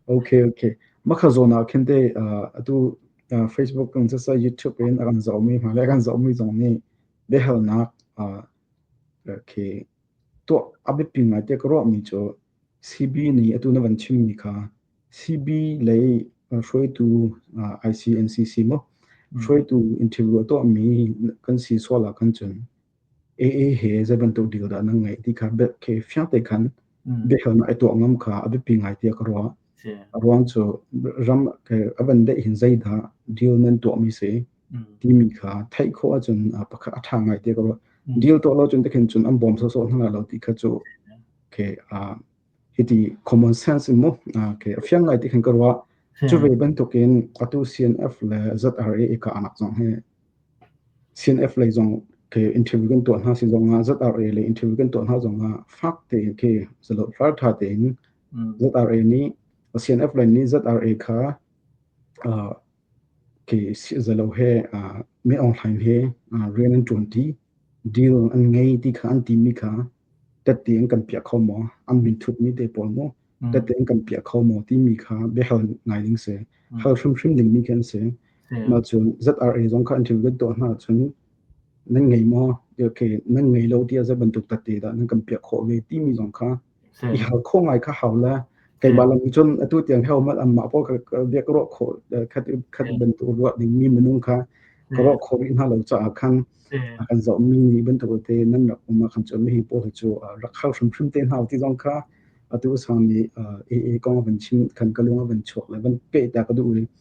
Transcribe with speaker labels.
Speaker 1: Okay, okay. Makha zawn ah khin te atu Facebook kan sa YouTube in a kan zaumi hna le kan zaumi zong nih biahalnak okay to abipi ngai te ka ruahmi cu CB nih atu na van chimmi kha CB lei hruaitu ICNCC mo hruaitu interview to mi kan si suala kan cun AA he zei bantuk dil dah nan ngeih ti kha bel khi fiang te khan biahalnak i tuah ngam kha a biapi ngai tiah ka ruah a ruang cu ram a van deh hin zei dah deal nan tuah mi si timi kha theih khawh ahcun pakhat a ṭha ngai tiah ka ruah deal tuah lo cun te khin cun an bawm sawsawh hna lo ti kha cu okay Hiti common sense in mu ke fiang ngai ti khan ka ruah. Cu ve bantuk in atu CNF le ZRA i ka anak zong hi CNF lei zong ke interview kan tuah hna sin zong nga ZRA le interview kan tuah hna zong nga fak tein ke zalo far tha tein ZRA nih CNF le nih ZRA kha Khi ziaza he Meaung Hlaing he rian an ṭuanṭi, deal an ngei ti kha an timi kha tette in kan piah kho maw? An minthutmi te pawl maw? Tette in kan piah kho maw? timi kha biahal ngai ding si. Hal hrimhrim dingmi khi an si. Mahcun ZRA zong kha an ṭim lut tuah hna ahcun nan ngei maw? Okay, nan ngei lo ti a za bantuk tette dah nan kan piah khawh ve timi zong kha i hal kho ngai kha hau la keimah lam cun atu tiang heo mat amma po ka biak ro kho khat khat bantu ruwa ding mi minung kha ka ro kho ri hna lo cha khan kan zo mi ni bantu te nan rak uma khan chun mi po chu rak khal hrim hrim te hna ti zong kha atu sang ni e e kong van chin kan ka lunga van chok le van pe ta ka du